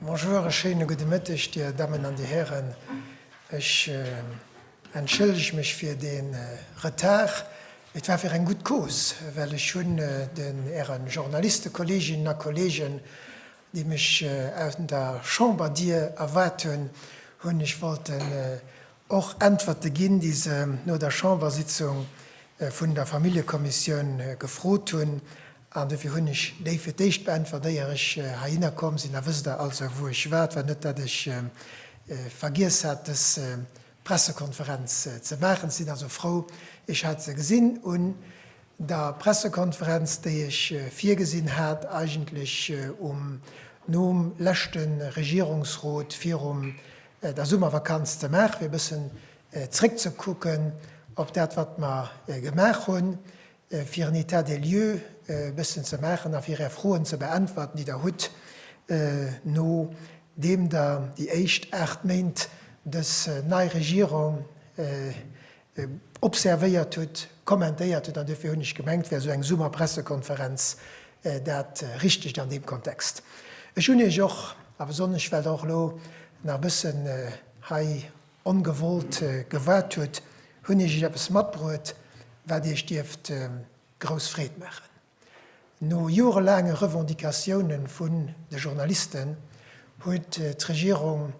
Bonjour, e schéine gudde Mëtteg, Dir Dammen an Dir Hären. Ech entschëllege mech fir dee Retard, mee et war fir eng gutt Cause, well ech hunn den Äre Journalistekolleeginnen a kollegen, déi mech an der Chamberdier erwaart hunn, hunn ech wollten Och Äntwerte ginn, déi se no der Chambersitzung vun der Familljekommissioun gefrot hunn. An dofir hunn ech déi fir d'éischt beäntwert, éier ech heihinner komm sinn. Da wësst Der also, wou ech war. Et war net, datt ech vergiess hat, dës Pressekonferenz ze maachen. Sinn also frou, ech hat se gesinn un der Pressekonferenz, déi ech virgesinn hat, eigentlech um nom leschte Regierungsrot virum der Summervakanz ze maachen, fir e bëssen zréckzekucken op dat, wat mer gemaach hunn, fir en État des lieux e bëssen ze maachen a fir Är Froen ze beäntwerten, déi Der hutt, nodeem Der déi éischt aacht Méint dës nei Regierung observéiert hutt, kommentéiert hutt, an duerfir hunn ech gemengt, wär esou eng Summer-Pressekonferenz dat Richtegt an deem Kontext. Ech hunn Iech och, a besonnesch well Der och elo nach e bëssen hei ongewollt gewaart hutt, hunn ech Iech eppes matbruet, wat Iech dierft grouss Freed maachen. No jorelaange Revendicatioune vun de Journalisten huet d'Regierung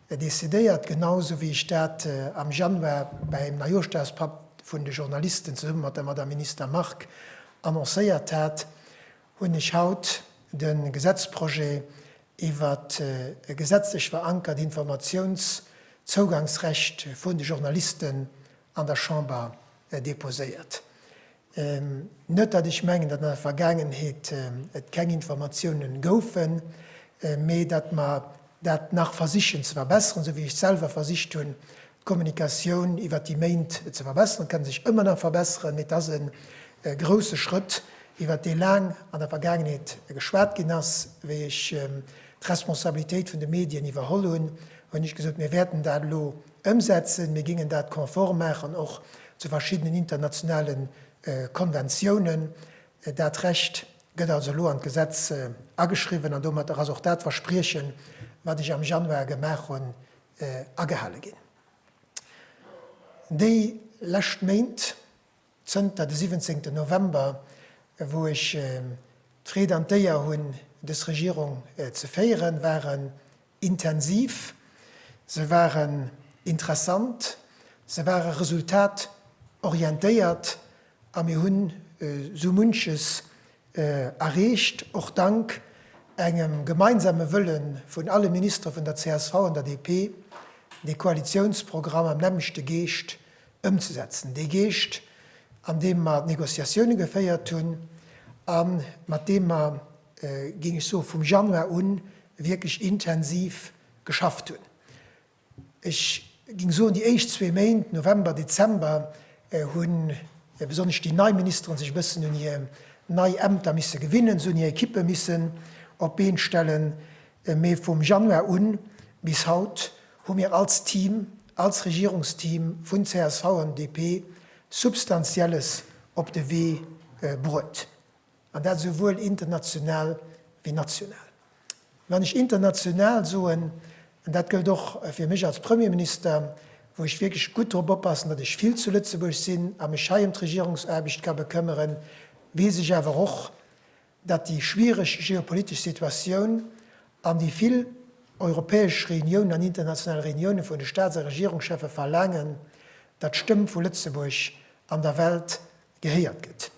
decidéiert, genau sou wéi ech dat am Januar bäim Neijooschdagspatt vun de Journalisten zesumme mat der Madame Minister Margue annoncéiert hat, hunn ech haut de Gesetzprojet iwwer e gesetzlech verankert Informatiounszougaangsrecht vun de Journalisten an der Chamber deposéiert. Net datt ech mengen, datt an der Vergaangenheet et keng Informatiounen goufen, mee datt mer dat nach versichen ze verbessern, esou wéi ech selwer versicht hunn d'Kommunikatioun iwwert déi Méint ze verbessern. Et ka sech ëmmer nach verbesseren, mee et ass e grousse Schrëtt, iwwert dee laang an der Vergaangenheet geschwat ginn ass. Wéi ech d'Responsabilitéit vun de Medien iwwerholl hunn, hunn ech gesot, mir wäerten dat elo Ëmsetzen. Mir gingen dat konform maachen och zu verschiddenen internationale Konventiounen. Dat Recht gëtt also elo an d'Gesetz ageschriwwen an domatter ass och dat Verspriechen, wat ech am Januar gemaach hunn, agehale ginn. Déi lescht Méint, Zënter de siwwenzéngten November, wou ech d'Freed an d'Éier hunn, dës Regierung ze féieren, waren intensiv, se waren interessant, se ware resultatorientéiert a mir hunn esou munches erreecht, och dank engem gemeinsame Wëlle vun alle Ministere vun der csv an der DP, dee Koalitiounsprogramm am nämmlechte Geescht ëmzesetzen, dee Geescht, an deem mer d'Négociatioune geféiert hunn a mat deem mer, géing ech soen, vum Januar un wierklech intensiv geschafft hunn. Ech géing soen, déi éischt zwee Méint, November, Dezember, hu besonnesch déi nei Ministeren sech e bëssen un hir nei Ämter misse gewinnen, se hunn hir Ekippe missen op d'Been stellen, mee vum Januar un bis haut hu mir als Team, als Regierungsteam vun csv an DP Substantielles op de Wee bruet, an dat esouwuel international wéi national. Wann ech international soen, an dat gëllt och fir mech als Premierminister, wou ech wierklech gutt drop oppassen, datt ech vill zu Lëtzebuerg sinn a mech hei ëm d'Regierungsaarbecht ka bekëmmeren, weess ech awer och, datt déi schwiereg geopolitesch Situatioun an déi vill europäesch Reuniounen an international Reuniounen vun de Staats a Regierungscheffe verlaangen, datt d'Stëmm vu Lëtzebuerg an der Welt gehéiert gëtt.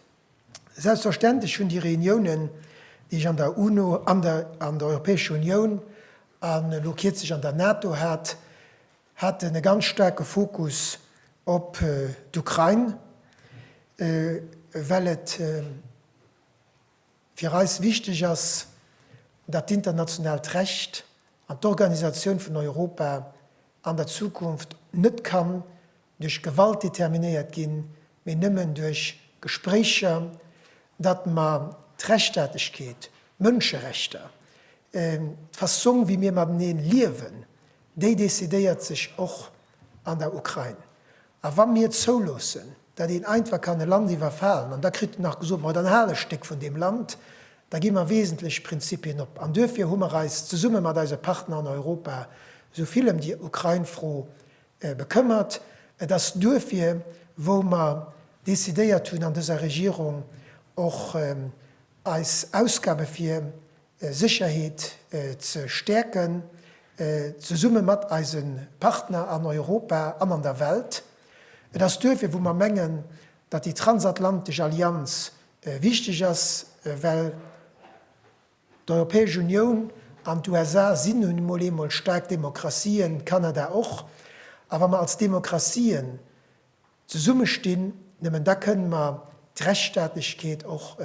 Selbstverständlech hunn déi Reuniounen, déi ech an der UNO, an der Europäescher Unioun an elo kierzlech an der NATO hat, haten e ganz staarke Fokus op d'Ukrain, well et, Fir eis wichteg ass, dat d'internationaalt Recht an d'Organisatioun vun Europa an der Zukunft net kann duerch Gewalt determinéiert ginn, mee nëmmen duerch Gespréicher, dat mer d'Rechtstaatlechkeet, d'Mënscherechter, d'Fassong wéi mir mateneen liewen, déi decidéiert sech och an der Ukrain. A wa mir zouloossen, datt een einfach kann e Land iwwerfalen, an da kritt en nach gesot, ma dann hal e Stéck vun deem Land, da gi mer wesentlech Prinzipien op. An duerfir hu mer eis zesumme mat eise Partner an Europa esou vill ëm déi Ukrain-Fro bekëmmert. Et ass duerfir, wou mer decidéiert hunn an dëser Regierung och eis Ausgabe fir Sécherheet ze stäerken, zesumme mat eise Partner an Europa an an der Welt. Et ass duerfir, wou mer mengen, datt déi transatlantesch Allianz wichteg ass, well d'Europäesch Unioun an d'USA si nun emol eemol staark Demokratien, Kanada och, a wa mer als Demokratien Zesumme stinn, nëmmen da kënnen mer d'Rechtsstaatlechkeet och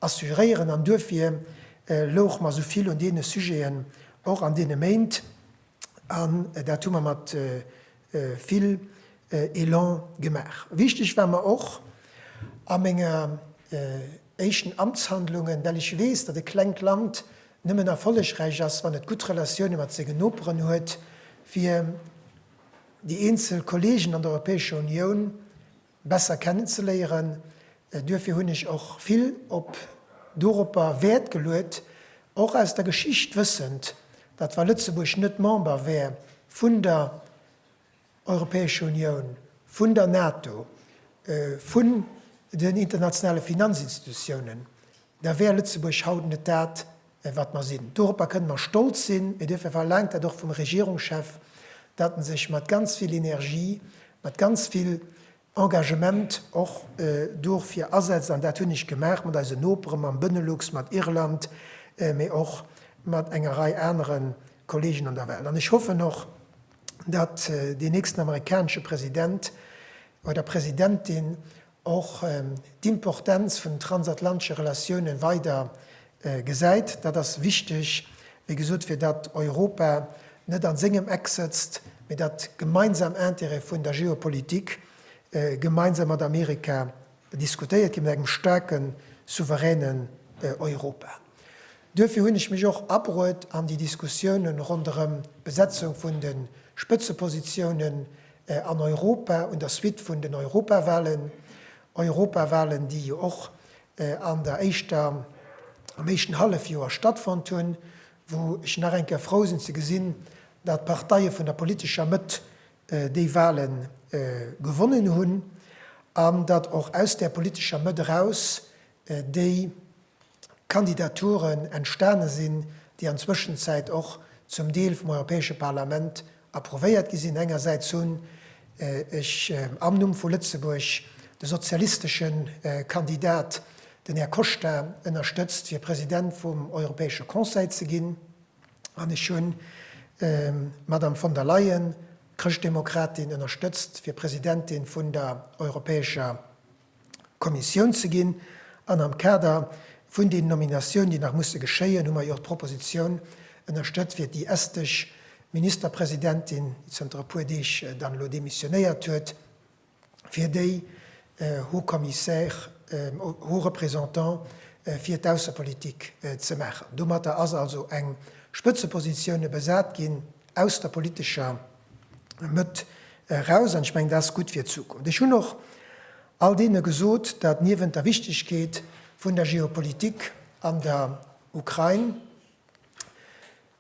assuréieren. An duerfir louche mer esou vill un deene Sujeten och an deene Méint, an dat hu mer mat vill Elan gemaach. Wichteg war mer och a menger éischten Amtshandlungen, well ech weess, datt e klengt Land nëmmen erfollegräich ass, wann et gutt Relatioune mat senge Noperen huet, fir, déi eenzel Kollegen an der Europäescher Unioun besser kennenzeléieren. Duerfir hunn ech och vill op doropper Wäert geluet, och aus der Geschicht wëssend, datt wa Lëtzebuerg net Member wär vun der Europäescher Unioun, vun der NATO, vun den internationale Finanzinstitutiounen, da wär Lëtzebuerg haut net dat, wat mer sinn. Doropper kënnen mer stolz sinn. Mir duerfe verlaangt dat och vum Regierungschef, datt en sech mat ganz vill Energie, mat ganz vill Engagement och dofir asetzt. An dat hunn ech gemaach mat eisen Nopere, mam Benelux, mat Irland, mee och mat enger Rei anere Kollegen an der Welt. An ech hoffen och, datt deen nächsten amerikanesche President oder Presidentin och d'Importenz vun den transatlantesche Relatioune weider gesäit. Dat ass wichteg, wéi gesot, fir datt Europa net a sengem Eck sëtzt, mee dat gemeinsam Intérêt vun der Geopolitik gemeinsam mat Amerika diskutéiert ginn, mat engem staarken, souveränen Europa. Duerfir hunn ech mech och abruet an déi Diskussioune ronderëm d'Besetzung vun de Spëtzepositiounen, an Europa un der Suite vun den Europawahlen, Europawahlen, déi jo och an der éischter, am éischten Hallefjoer stattfonnt hunn, wou ech nach eng Kéier frou sinn ze gesinn, datt d'Parteie vun der politescher Mëtt déi Wahle gewonnen hunn an datt och aus där politescher Mëtt eraus déi, Kandidaturen entstane sinn, déi an Zwëschenzäit och zum Deel vum Europäesche Parlament approuvéiert gi sinn. Engersäits hunn ech am Numm vu Lëtzebuerg de sozialistesche Kandidat, den Här Costa, ënnerstëtzt, fir President vum Europäesche Conseil ze ginn, an ech hunn d'Madame von der Leyen, d'Chrëschtdemokratin, ënnerstëtzt, fir Presidentin vun der Europäescher. Kommissioun ze ginn. An am Kader vun den Nominatiounen, déi nach musse geschéien, hu mer jo och d'Propositioun ënnerstëtzt fir déi estesch Ministerpresidentin, déi zënter e puer Deeg dann elo demissionéiert huet, fir déi Haut-Commissaire, Haut-Représentant fir d'Aussepolitik ze maachen. Domatter ass also eng Spëtzepositioune besat ginn aus der politescher. Mëtt eraus an ech mengen, dat ass gutt fir d'Zukunft. Ech hunn och all deene gesot, datt niewent der Wichtigkeet vun der Geopolitik an der Ukrain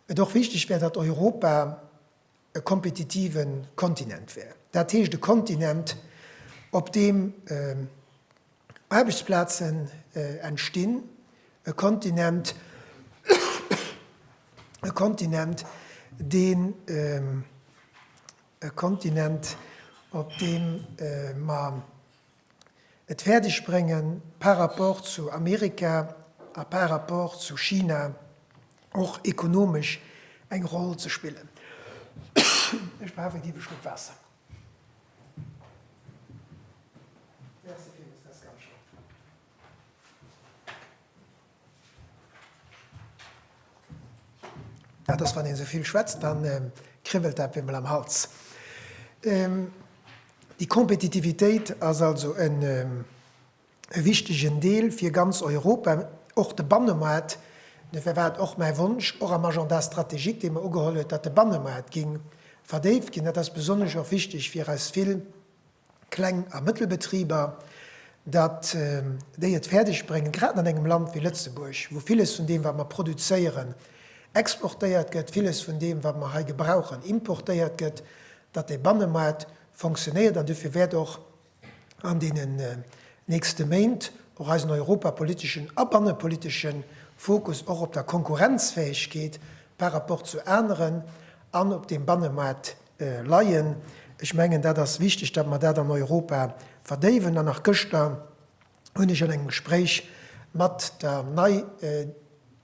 et och wichteg wär, datt Europa e kompetitive Kontinent wär, dat heescht e Kontinent, op deem, Aarbechtsplazen entstinn, e Kontinent, e Kontinent, deen, e Kontinent, op deem mer et fäerdeg bréngen, par rapport zu Amerika a par rapport zu China och ekonomesch eng Roll ze spillen. Ech brauch e giffe Schluck Waasser. Dat ass wann een esouvill schwätzt, da kribbelt dat beemol am Hals. Déi Kompetitivitéit ass also en e wichtegen Deel fir ganz Europa, och de Bannemaart. Dofir war et och mäi Wonsch, och am Agenda stratégique, dee mer ugeholl huet, datt de Bannemaart géing verdéift ginn. Dat ass besonnesch och wichteg fir eis vill Kleng a Mëttelbetriber, datt déi et fäerdeg bréngen, grad an engem Land wéi Lëtzebuerg, wou villes vun deem, wat mer produzéieren, exportéiert gëtt, villes vun deem, wat mer hei gebrauchen, importéiert gëtt, datt de Bannemaart fonctionéiert. An dofir wäert och an deenen nächste Méint och eisen europapoliteschen a bannepolitesche Fokus och op der Konkurrenzfäegkeet par rapport zu aneren an op dem Bannemaart leien. Ech mengen, dat ass wichteg, datt mer dat an Europa verdéiwen. An nach gëschter hunn ech an engem Gespréich mat der nei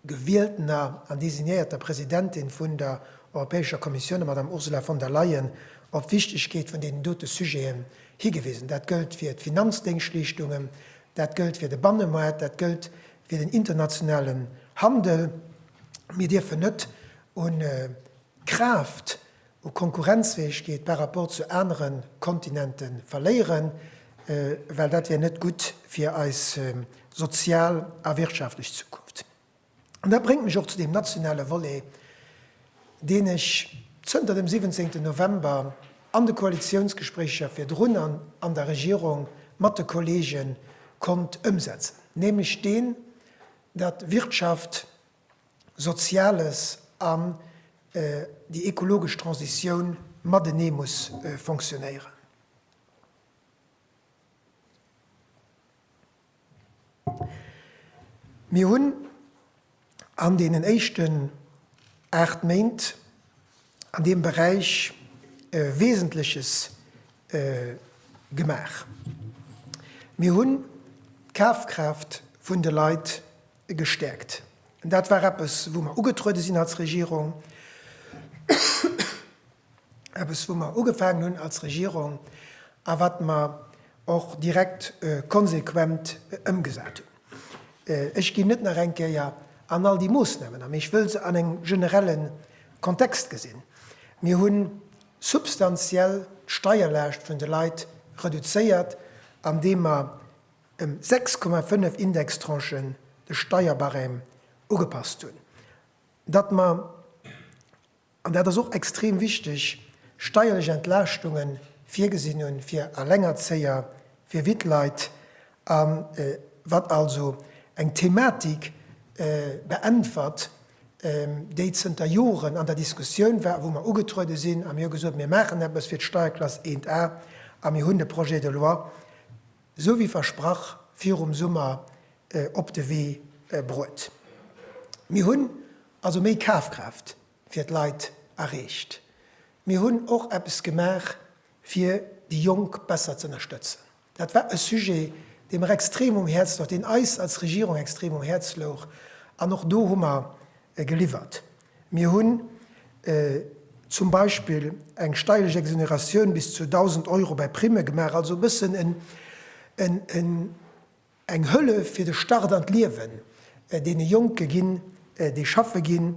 gewieltener an designéierter Presidentin vun der Europäescher Kommissioun, der Madame Ursula von der Leyen, op d'Wichtegkeet vun deenen dote Sujeten higewisen. Dat gëllt fir d'Finanzdéngschleeschtungen, dat gëllt fir de Bannemaart, dat gëllt fir den internationalen Handel. Mir dierfen net un Kraaft u Konkurrenzfäegkeet par rapport zu anere Kontinente verléieren, well dat wär net gutt fir eis sozial a wirtschaftlech Zukunft. An dat bréngt mech och zu deem nationale Volet, deen ech zënter dem 17. November an de Koalitiounsgespréicher virdrun an an der Regierung mat de Kollege konnt ëmsetzen, nämlech deen, datt Wirtschaft Soziales an déi ekologesch Transitioun matenee muss fonctionnéieren. Mir hunn an deenen éischten aacht Méint an deem Beräich Wesentleches gemaach. Mir hunn d'Kafkraaft vun de Leit gestäerkt. Dat war eppes, wou mer ugetruede sinn als Regierung, eppes, wou mer ugefaangen hunn als Regierung a wat mer och direkt konsequent ëmgesat hunn. Ech ginn net nach eng Kéier an all déi Moosnamen a, mee ech wëll se an engem generelle Kontext gesinn. Mir hu substantiell d'Steierlaascht vun de Leit reduzéiert, andeem mer ëm 6,5 Indextranchen de Steierbarème ugepasst hunn, datt mer, an dat ass och extrem wichteg, steierlech Entlaaschtunge virgesinn hunn fir Allengerzéier, fir Wittleit, a wat also eng Thematik beäntwert, déi zënter Joren an der Diskussioun war, wou mer ugetruede sinn a mir hu gesot, mir maachen eppes fir d'Steierklass 1 A a mir hunn de Projet de loi, Esou wéi versprach virum Summer op de Wee bruet. Mir hunn also méi Kafkraaft fir d'Leit erreecht. Mir hunn och eppes gemaach fir déi Jonk besser z'ënnerstëtzen. Dat war e Sujet dee mer extrem um Häerz louch, deen eis als Regierung extrem um Häerz louch an och do hu mer geliwwert. Mir hunn zum Beispill eng steierlech Exoneratioun bis zu 1.000 Euro bei Primme gemaach, also e bëssen eng Hëllef fir de Start an d'Liewen deene Jonke ginn, déi schaffe ginn,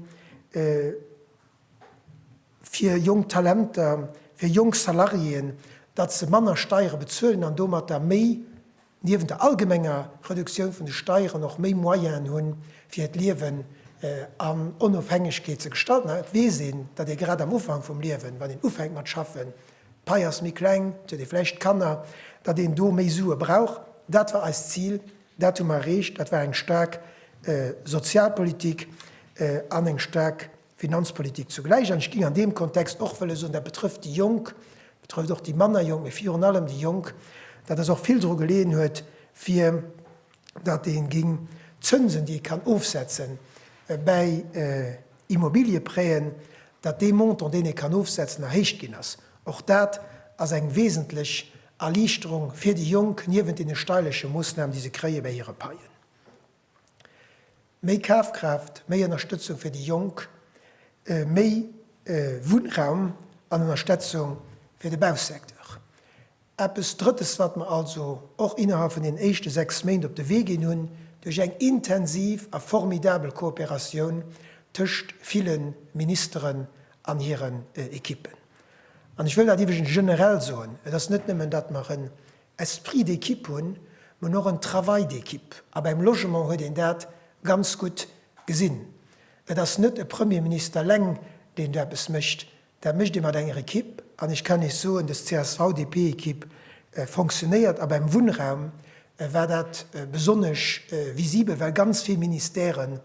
fir jonk Talenter, fir jonk Salariéen, datt se manner Steiere bezuelen an domatter méi. niewent der allgemenger Reduktioun vun de Steieren och méi Moyenen hu fir hiert Liewen an Onofhängegkeet ze gestalten. An et weess een, datt ee grad am Ufank vum Liewen, wann een ufänkt mat schaffen, d'Pai ass méi kleng, et huet ee vläicht Kanner, datt een do méi Sue brauch. Dat war eist Zil, dat hu mer erreecht. Dat war eng staark Sozialpolitik an eng staark Finanzpolitik zugläich. An ech géing an deem Kontext och wëlle soen, dat betrëfft déi Jonk, betrëfft och déi manner Jonk, mee virun allem déi Jonk, dat dass och vill dru geleeën huet, fir datt ee géing d'Zënsen, déi ee kann ofsetze bäi Immobiliëprêten, datt dee Montant, deen ee kann ofsetzen, erhéicht ginn ass. Och dat ass eng wesentlech Erliichterung fir déi Jonk, niewent deene steirleche Moossnamen, déi se kréie bäi hire Paien. Méi Kafkraaft, méi Ënnerstëtzung fir déi Jonk, méi Wunnraum an Ënnerstetzung fir de Bausecteur. Eppes Drëttes, wat mer also och innerhalb vun den éischte sechs Méint op de Wee ginn hunn, duerch eng intensiv a formidabel Kooperatioun tëscht ville Ministeren an hiren Ekippen. An ech wëll dat iwwregens generell soen, et ass net nëmmen, datt mer en Esprit d'équipe hunn, men och en Travail d'équipe. A beim Logement huet een dat ganz gutt gesinn. Et ass net e Premierminister eleng, deen do eppes mécht. Dat mécht ee mat enger Equipe. An ech kann Iech soen, des CSV-DP-Equipe fonctionnéiert. A beim Wunnraum war dat besonnesch visibel, well ganz vill Ministèren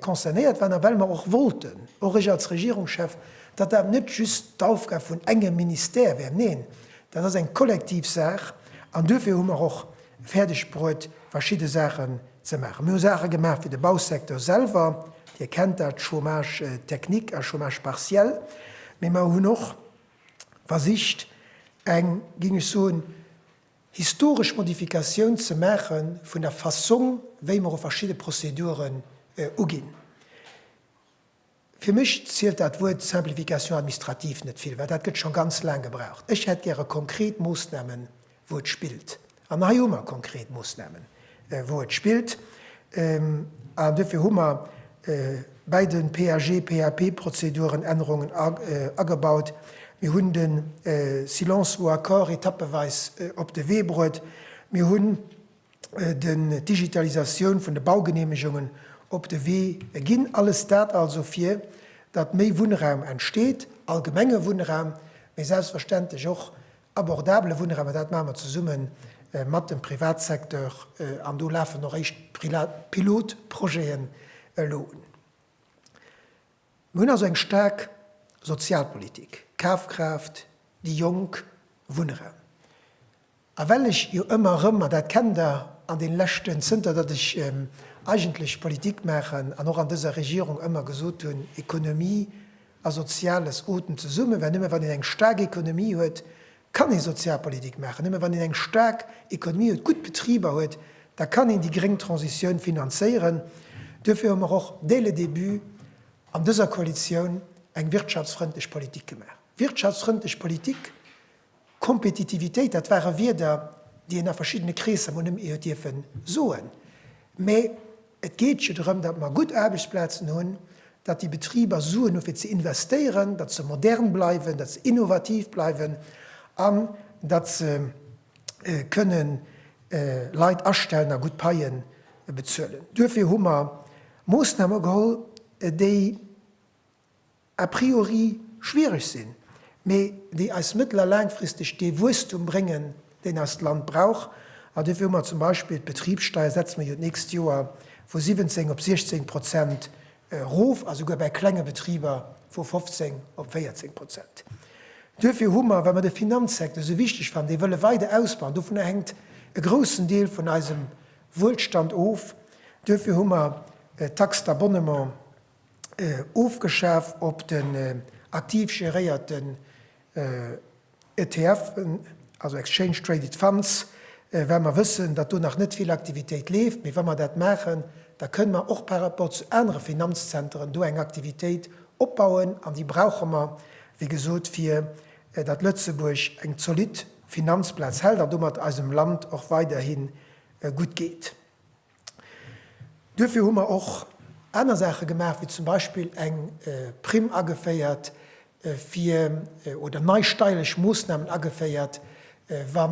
Concernéiert waren a well mer och wollten, och ech als Regierungschef, datt dat net just d'Aufgab vun engem Ministère wär, neen, dat ass eng kollektiv Saach an duerfir hu mer och fäerdegbruet verschidde Saachen ze maachen. Mir hu Saache gemaach fir de Bausecteur selwer, Dir kennt dat, Chômage technique a Chômage partiel, mee mer hunn och versicht eng, géing ech soen, historesch Modifikatioun ze maache vun der Fassong, wéi mer u verschidde Prozeduren uginn. Fir mech zielt dat Wuert Simplification administrative net vill, well dat gëtt scho ganz laang gebraucht. Ech hätt gäre konkret Moosnamen, wou et spillt. An hei hu mer konkret Moosnamen. wou et spillt, an duerfir hu mer bäi de PAG, PAP-Prozeduren Ännerungen agebaut. Mir hunn de Silence vaut accord etappeweis op de Wee bruet. Mir hunn d'Digitalisatioun vun de Baugeneemegungen op de Wee ginn. Alles dat also, fir datt méi Wunnraum entsteet, allgemenge Wunnraum, mee selbstverständlech och Abordabele Wunnraum, dat maache mer zesumme mat dem Privatsecteur an do lafen och éischt Pilotprojeten elo un. Mir hunn also eng staark Sozialpolitik, Kafkraaft, déi Jonk, Wunnraum. A well ech jo ëmmer erëm, an dat kennt Der, an deene leschten, zënter datt ech eigentlech Politik maachen an och an dëser Regierung, ëmmer gesot hunn, Economie, a Soziales ootmen zesummen, well nëmme wann een eng staark Ekonomie huet, kann ee Sozialpolitik maachen, nëmme wann een eng staark Ekonomie huet, gutt Betriber huet, da kann een déi gréng Transitioun finanzéieren. Duerfir hu mer och dès le début an dëser Koalitioun eng wirtschaftsfrëndlech Politik gemaach. Wirtschaftsfrëndlech Politik Kompetitivitéit, dat ware Wierder, déi een a verschiddene Kreesser mol net méi huet dierfe soen, mä et geet jo drëm, datt mer gutt Aarbechtsplazen hunn, datt déi Betriber Suen hu fir ze investéieren, datt se modern bleiwen, datt se innovativ bleiwen an datt se kënne Leit astellen a gutt Paie bezuelen. Duerfir hu mer Moossname geholl, déi a priori schwiereg sinn, mee déi eis mëttel a laangfristeg dee Wuesstum bréngen, deen eist Land brauch. An duerfir hu mer zum Beispill d'Betribssteier, setze mer jo d'nächst Joer vu 17 op 16 Prozent erof a souguer bäi klenge Betriber vu 15 op 14 Prozent. Duerfir hu mer, well mer de Finanzsecteur esou wichteg fannen, dee wëlle weider ausbauen, dovunner hänkt e groussen Deel vun eisem Wuelstand of, duerfir hu mer d'Taxe d'abonnement, ofgeschaf op den aktiv geréierten ETFen, also Exchange Traded Funds, well mer wëssen, datt do nach net vill Aktivitéit leeft. Mee wa mer dat maachen, da kënne mer och par rapport zu anere Finanzzenteren do eng Aktivitéit opbauen an déi brauche mer, wéi gesot, fir datt Lëtzebuerg eng zolidd Finanzplaz hält an domat eisem Land och weiderhi gutt geet. Duerfir hu mer och aner Saache gemaach, wéi zum Beispill eng Primm ageféiert fir, oder nei steierlech Moossnamen ageféiert, wa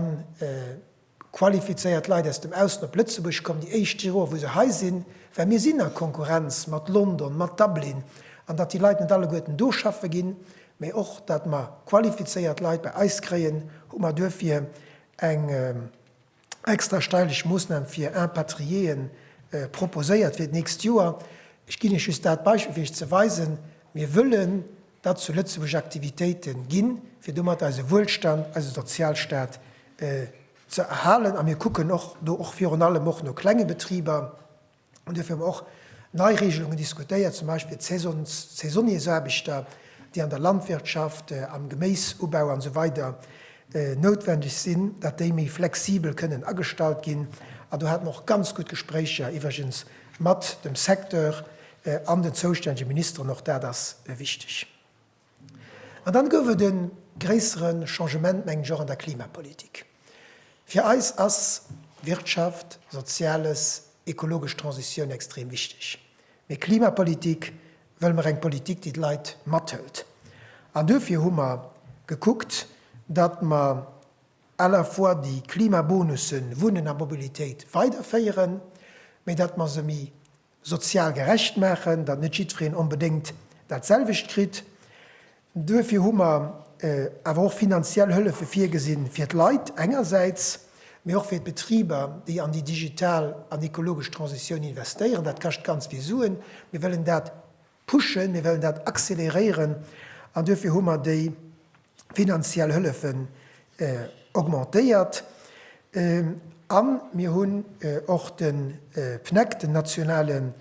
qualifizéiert Leit aus dem Ausland op Lëtzebuerg kommen, déi éischt Joer wou se hei sinn, well mir sinn a Konkurrenz mat London, mat Dublin, an datt déi Leit net alleguerten do schaffe ginn, mä och datt mer qualifizéiert Leit bei eis kréien, hu mer duerfir eng extra steileg Moosnam fir Impatriéeën proposéiert fir d'nächst Joer. Ech ginn Iech just dat Beispill, fir Iech ze weisen, Mir wëllen, datt zu Lëtzebuerg Aktivitéite ginn, fir domat eise Wuelstand, eise Sozialstaat ze erhalen. A mir kucken och do, och virun allem och no klenge Betriber, An duerfir hu mer och nei Regelungen diskutéiert, zum Beispill d'Saisons, d'Saisonniers-aarbechter, déi an der Landwirtschaft, am Geméisubau an esou weider noutwendeg sinn, datt déi méi flexibel kënnen agestallt ginn. An do hate mer och ganz gutt Gespréicher iwwregens mat dem Secteur an den zoustännege Ministeren. Och dat ass wichteg. An dann gouf et e gréissere Changement, mengen ech, och an der Klimapolitik. Fir eis ass Wirtschaft, Soziales, ekologesch Transitioun extrem wichteg. Mee Klimapolitik wëlle mer eng Politik, déi d'Leit mathëlt. An duerfir hu mer gekuckt, datt mer à la fois déi Klimabonussen, Wunnen a Mobilitéit, weiderféieren, mee datt mer se méi Sozial gerecht maachen, datt net jiddwereen onbedéngt dat selwecht kritt. Duerfir hu mer awer och finanziell Hëllefe virgesinn, fir d'Leit engersäits, mee och fir d'Betriber, déi an déi digital an ekologesch Transitioun investéieren. Dat kascht ganz vill Suen. Mir wëllen dat Pushen, mir wëllen dat accéléréieren an duerfir hu mer déi finanziell Hëllefen augmentéiert. A mir hunn och de PNEC, den nationalen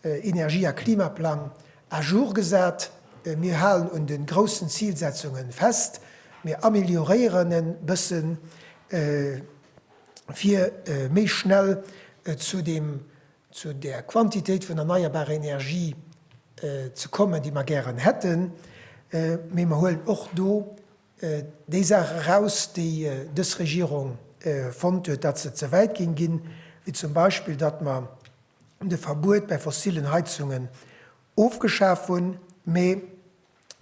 Energie a Klimaplang, à jour gesat. Mir halen un de groussen Zilsetzunge fest, mir amelioréieren e bësse fir méi schnell zu deem zu där Quantitéit vun erneierbarer Energie ze kommen, déi mer gären hätten, mee mer huelen och do déi Saach eraus, déi dës Regierung fonnt huet, datt se ze wäit géing ginn, wéi zum Beispill, datt mer de Verbuet bei fossillen Heizungen ofgeschaf hunn, mee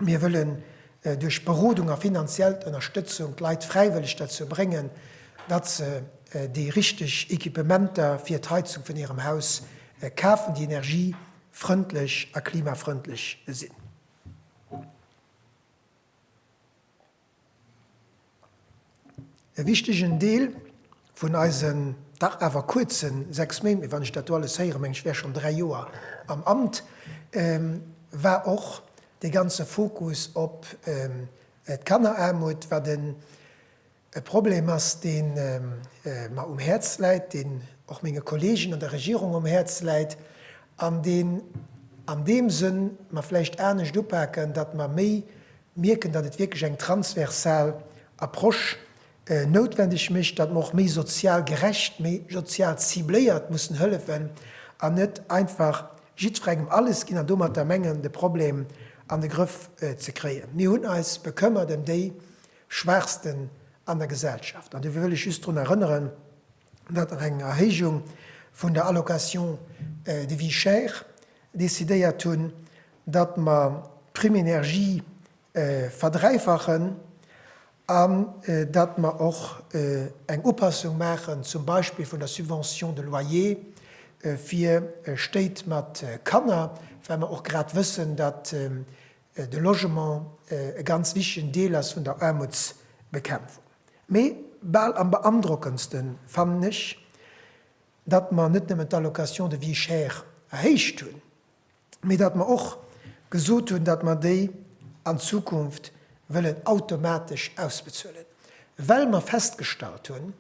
Mir wëllen duerch Berodung a finanziellt Ënnerstëtzung d'Leit fräiwëlleg derzou bréngen, datt se déi richteg Equipementer fir d'Heizung vun hirem Haus kafen, déi energiefrëndlech a klimafrëndlech sinn. E wichtegen Deel vun eisen dach awer kuerze sechs Méint, mee wann ech dat do alles héieren, mengen ech wär schonn dräi Joer am Amt, war och dee ganze Fokus op d'Kanneraarmut, wat e Problem ass, dee mer um Häerz läit, deen och menge Kolleegen an der Regierung um Häerz läit an deen an deem Sënn mer vläicht anescht upaken, datt mer méi mierken, datt et wierklech eng transversal Approche noutwendeg mécht, datt mer och méi sozial gerecht, méi sozial cibléiert mussen hëllefen an net einfach jiddferengem alles ginn an domatter mengen, de Problem an de Grëff ze kréien. Mir hunn eis bekëmmert ëm déi Schwaachsten an der Gesellschaft an dofir wëll ech just drun erënneren, datt nach eng Erhéijung vun der Allocation de vie chère decidéiert hunn, datt mer d'Prime énergie verdräifachen an datt mer och eng Upassung maachen zum Beispill vun der Subvention de loyer fir Stéit mat Kanner, well mer och grad wëssen, datt de Logement e ganz wichtegen Deel ass vun der Aarmutsbekämpfung. Mee bal am beandrockendste fannen ech, datt mer net nëmmen d'Allocation de vie chère erhéicht hunn, mee datt mer och gesot hunn, datt mer déi an Zukunft wëllen automatesch ausbezuelen, well mer festgestallt hunn,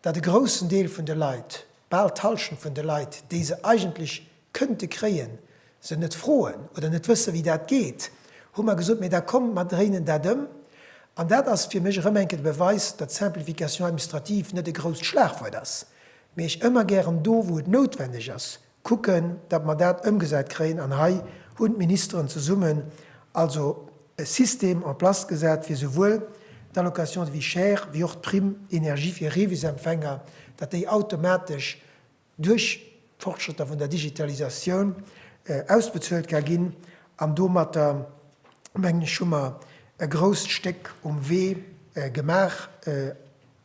datt e groussen Deel vun de Leit, bal d'Hallschent vun de Leit, déi se eigentlech kënnte kréien, se net froen oder net wësse wéi dat geet, hu mer gesot, mee da kommt mer dréinen dat ëm. An dat ass fir mech erëm eng Kéier de Beweis, datt Simplification administrative net e grousst Schlagwuert ass, mee ech ëmmer gären do wou et noutwendeg ass kucken, datt mer dat ëmgesat kréien. An hei hunn d'Ministeren zesummen also e System en place gesat fir souwuel d'Allocation de vie chère wéi och d'Prime énergie fir Revisempfänger, datt déi automatesch, duerch d'Fortschrëtter vun der Digitalisatioun ausbezuelt ka ginn an domatter, mengen ech, hu mer e grousst Stéck um Wee gemaach,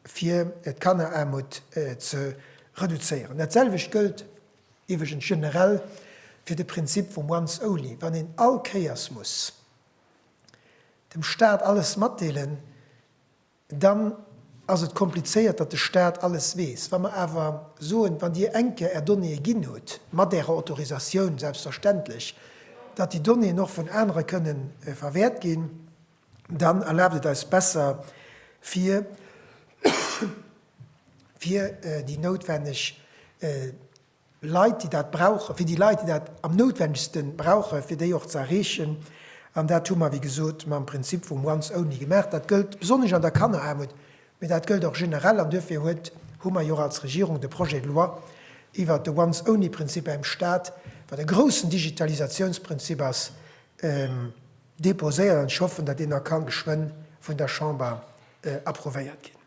fir d'Kanneraarmut ze reduzéieren. Dat selwecht gëllt iwweregens generell fir de Prinzip vum Once Only. Wann een all Kéiers muss dem Stat alles matdeelen, dann ass et komplizéiert, datt de Staat alles weess. Wa mer awer soen, wann Dir eng Kéier Är Donnéeë ginn hutt, mat Ärer Autorisatioun selbstverständlech, datt déi Donnéeën och vun anere kënnen verwäert ginn, dann erlaabt et eis besser, fir déi noutwenneg Leit, déi dat brauchen, fir déi Leit, déi dat am noutwendegste brauchen, fir déi och ze erreechen. An dat hu mer, wéi gesot, mam Prinzip vum once only gemaach. Dat gëllt besonnesch an der Kanneraarmut, mee dat gëllt och generell. An duerfir huet, hu mer jo och als Regierung de Projet de loi iwwert de once only Prinzip beim Stat, wat e groussen Digitalisatiounsprinzip ass, déposéiert. An ech hoffen, datt deen da ka geschwënn vun der Chamber approuvéiert ginn.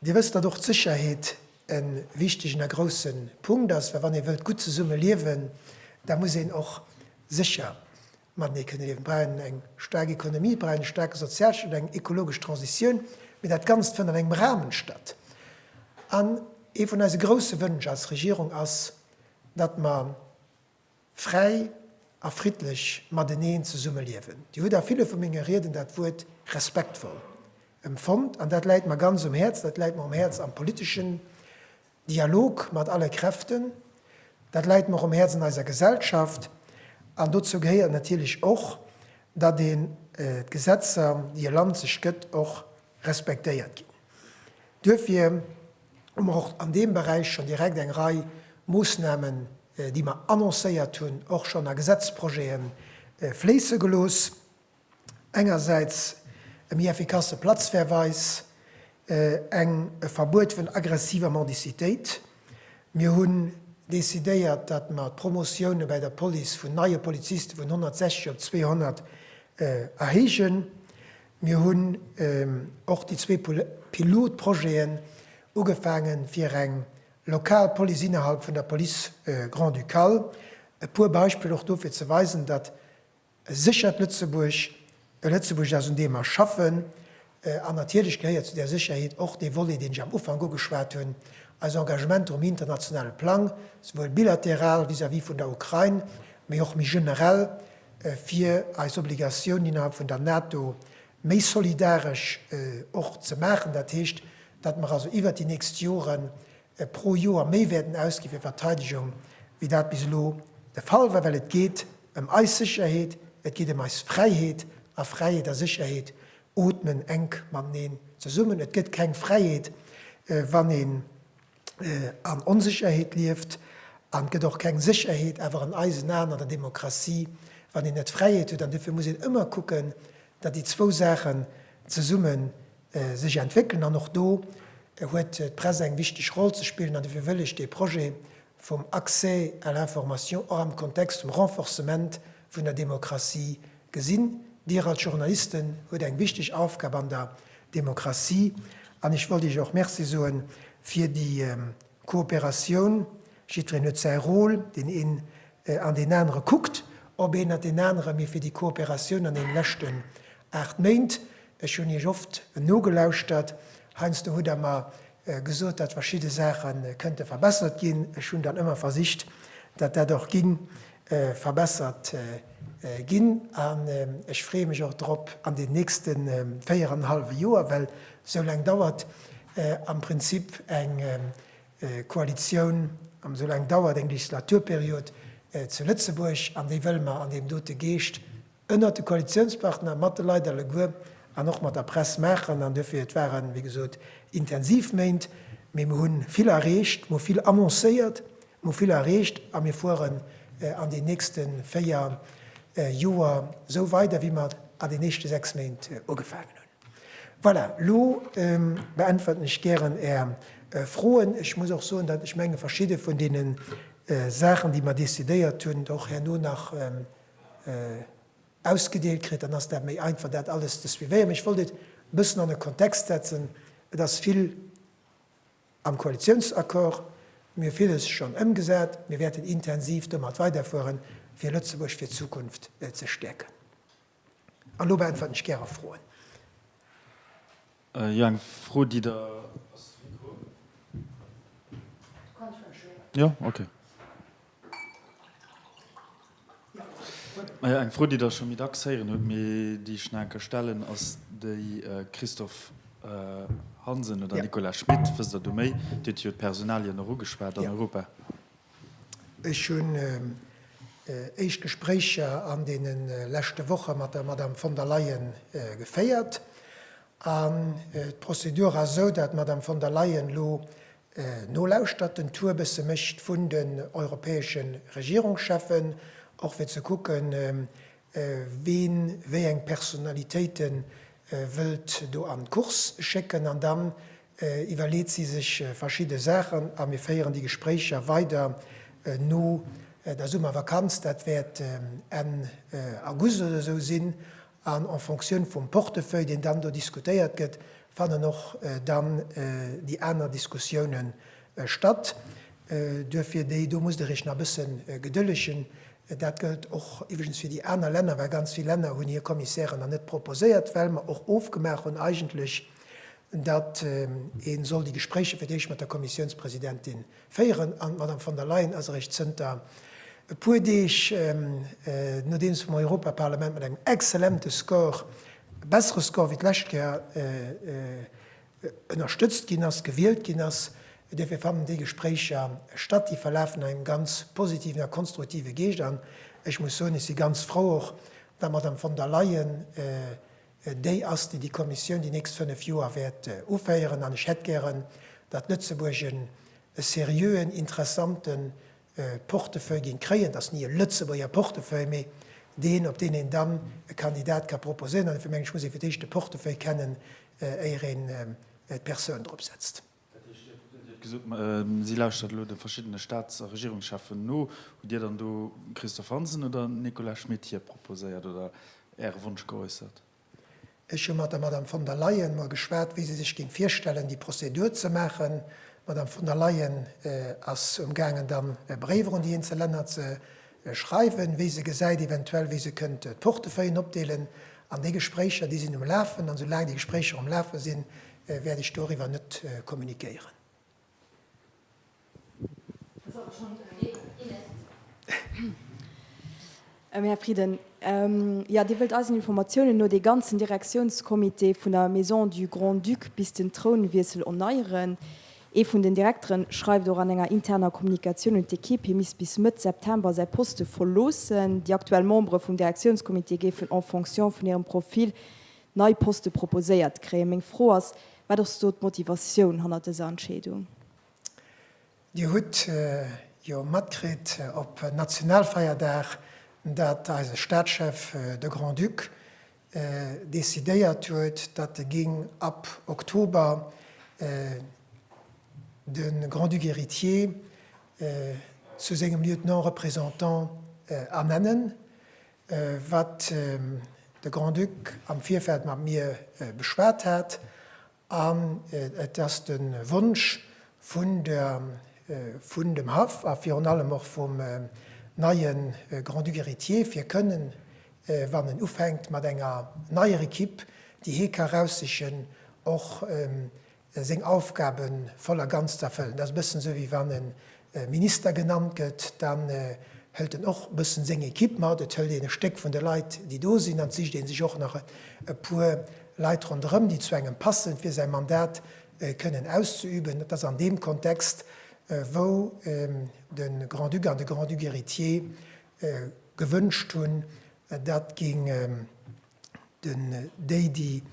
Dir wësst, datt och d'Sécherheet e wichtegen a grouse Punkt ass, well wann ee wëllt gutt zesumme liewen, da muss een och sécher matenee kënne liewen. Et brauch een eng staark Ekonomie, et brauch een e staarke Sozialstaat, eng ekologesch Transitioun, mee dat Ganzt fënnt an engem Rahmen statt. An ee vun eise grouse Wënsch als Regierung ass, datt mer, Fräi a friddlech mateneen zesummeliewen. Dir hutt a ville vu menge Rieden dat Wuert respektvoll emfonnt, an dat läit mer ganz um Häerz. Dat läit mer um Häerz am politeschen Dialog mat alle Kräften, dat läit mer och um Häerz an eiser Gesellschaft. An dozou gehéiert natierlech och, datt een d'Gesetzer, déi e Land sech gëtt, och respektéiert ginn. Duerfir. hu mer och an deem Beräich schonn direkt eng Rei Moossnamen, déi mer annoncéiert hunn, och schonn a Gesetzprojete fléisse gelooss. Engersäits e méi effikasse Platzverweis, eng e Verbuet vun aggressiver Mendicitéit. Mir hunn decidéiert, datt mer d'Promotioune bäi der Police vun neie Poliziste vun 160 op 200 erhéijen. Mir hunn och déi zwee Pilotprojeten ugefaangen, fir eng lokal Police innerhalb vun der Police grand-ducale. E puer Beispiller och do, fir ze weisen, datt e séchert Lëtzebuerg e Lëtzebuerg ass, un deem mer schaffen. An natierlech gehéiert zu där Sécherheet och dee Volet, deen ech am Ufank ugeschwat hunn, eis Engagementer um internationale Plang, souwuel bilateral vis-à-vis vun der Ukrain, mee och méi generell, fir eis Obligatioun innerhalb vun der NATO méi solidaresch och ze maachen, dat heescht, datt mer also iwwert déi nächst Jore pro Joer méi wäerten ausgi fir Verteidegung, wéi dat bis elo de Fall war, well et geet ëm eis Sécherheet, et geet ëm eis Fräiheet, a Fräiheet a Sécherheet ootmen enk mateneen zesummen. Et gëtt keng Fräiheet, wann ee an Onsécherheet lieft, an et gëtt och keng Sécherheet awer an eisen Aen an der Demokratie, wann een net Fräiheet huet. An duerfir muss een ëmmer kucken, datt déi zwou Saachen zesumme sech entwéckelen. An och do huet d'Press eng wichteg Roll ze spillen. An duerfir wëll ech dee Projet vum Accès à l'information och am Kontext vum Renforcement vun der Demokratie Gesinn, Dir als Journalisten huet eng wichteg Aufgab an der Demokratie an ech wollt Iech och Merci soe fir déi Kooperatioun. Jiddwereen huet säi Rôle, deen een an deen anere kuckt op een an deen anere, mee fir déi Kooperatioun an deene leschten aacht Méint, ech hunn Iech oft nogelauschtert, heiansdo hutt Der mer gesot, datt verschidde Saache kënnte verbessert ginn. Ech hunn dann ëmmer versicht, datt dat och ging verbessert ginn. An ech freeë mech och drop an den nächste véier an e hallwe Joer, well esou laang dauert am Prinzip eng Koalitioun, esou laang dauert eng Legislaturperiod zu Lëtzebuerg. An déi wëlle mer an deem dote Geescht ënnert de Koalitiounspartner, mat de Leit alleguer an och mat der Press maachen. An duerfir, et waren, wéi gesot, intensiv Méint, mee mir hu vill erreecht, mir hu vill annoncéiert, mir hu vill erreecht a mir fueren an den nächste véier Joer esou weider, wéi mir an den éischte sechs Méint ugefaangen hunn. Voilà, elo beäntwerten ech gären Är Froen. Ech muss och soen, datt ech menge verschidde vun deene Saachen, déi mir decidéiert hunn, och herno nach ausgedeelt kritt, dann ass dat méi einfach, dat alles ze suivéieren. Mee ech wollt et e bëssen an e Kontext setzen. Et ass vill am Koalitiounsaccord. Mir hu villes schonn ëmgesat. Mir wäerten intensiv domat weiderfueren, fir Lëtzebuerg fir d'Zukunft ze stäerken. An elo beäntwerten ech gäre Froen. Jo, eng Fro, déi der. Ass de Mikro? Jo, okay. Eng Fro, déi der scho méi dacks héieren hutt, mee déi ech nach eng Kéier stellen, ass déi, Christophe Hansen oder Nicolas Schmit, wësst der do méi? Dir hutt jo d'Personalien och ugeschwat an Europa. Ech hunn éischt Gespréicher an deene leschte Woche mat der Madame von der Leyen geféiert. An d'Prozedur ass esou, datt d'Madame von der Leyen elo nolauschtert, den Tour e bësse mécht vun den europäesche Regierungscheffen, och fir ze kucken, wien wéi eng Personnalitéite wëllt do an d'Course schécken. An da iwwerleet si sech verschidde Saachen a mir féieren déi Gespréicher weider no der Summervakanz. Dat wäert Enn August oder esou sinn. An en Fonctioun vum Portefeuille, deen dann do diskutéiert gëtt, fannen och dann déi aner Diskussioune statt. Duerfir déi do musst Der Iech nach e bësse gedëllegen. Dat gëllt och iwwregens fir déi aner Länner, well ganz vill Länner hunn hir Kommissären nach net proposéiert, well mer och ofgemaach hunn eigentlech, datt ee soll déi Gespréicher fir d'éischt mat der Kommissiounspresidentin féieren, an d'Madame von der Leyen ass eréischt zënter e puer Deeg, nodeems vum Europaparlament mat engem exzellente Score, e bessere Score wéi d'lescht Kéier, ënnerstëtzt ginn ass, gewielt ginn ass. Dierf ee fannen, déi Gespréicher statt, déi verlafen an engem ganz positiven a konstruktive Geescht. An ech muss soen, ech si ganz frou och, datt d'Madame von der Leyen Déi ass, déi déi Kommissioun déi nächst fënnf Joer wäert uféieren. An ech hätt gären, datt Lëtzebuerg en e seriöen, interessante Portefeuille géing kréien, datt ni e Lëtzebuerger Portefeuille, mee deen, op deen een dann e Kandidat ka proposéieren. An dofir mengen ech, muss ee fir d'éischt de Portefeuille kennen, éier een d'Persoun drop setzt. Dir hutt gesot, si lauschtert elo de verschiddene Staats a Regierungscheffen no. Hutt Dir dann do Christophe Hansen oder den Nicolas Schmit hir proposéiert oder Äre Wonsch geäussert? Ech hu mat der Madame von der Leyen mol geschwat, wéi si sech géing virstellen, déi Prozedur ze maachen. D'Madame von der Leyen ass um gaangen, dann e Bréif erun déi eenzel Länner ze schreiwen, wéi se gesäit, eventuell wéi se kënnt d'Portefeuillen opdeelen an déi Gespréicher, déi sinn um Lafen an soulaang déi Gespréicher um Lafe sinn, wäert ech doriwwer net kommunikéieren. Här Frieden, jo, Dir wëllt eisen Informatiounen no dee ganzen Direktiounscomité vun der Maison du Grand-Duc bis den Trounwiessel erneieren. Ee vun den Direkteren schreift och an enger interner Kommunikatioun un d'Ekipp, hie misst bis Mëtt September säi Poste verloossen. Déi aktuell Membere vum Direktiounscomité géifen en fonction vun hirem Profil nei Poste proposéiert kréien. Meng Fro ass, Wat ass do d'Motivatioun hannert dëser Entscheedung? Dir hutt jo matkritt op Nationalfeierdag, datt eise Staatschef, de Grand-Duc, decidéiert huet, datt e géing ab Oktober de Grand-Duc héritier zu sengem Lieutenant représentant ernennen, wat de Grand-Duc am Virfeld mat mir beschwat hat An et ass de Wonsch vun dem Haff a virun allem och vum neie Grand-Duc héritier, fir kënnen, wann en ufänkt mat enger neier Ekipp, déi hie ka raussichen, och seng Aufgabe voll a ganz z'erfëllen. Dat ass e bëssen esou, wéi wann e Minister genannt gëtt, dann hëlt en och e bëssen seng Equipe mat. Et hëlt een e Stéck vun de Leit, déi do sinn, an et sicht ee sech och nach e puer Leit ronderëm, déi zu engem passen, fir säi Mandat kënnen auszeüben. Et ass an deem Kontext, wou de Grand-Duc an de Grand-Duc héritier gewënscht hunn, dat géing den déi déi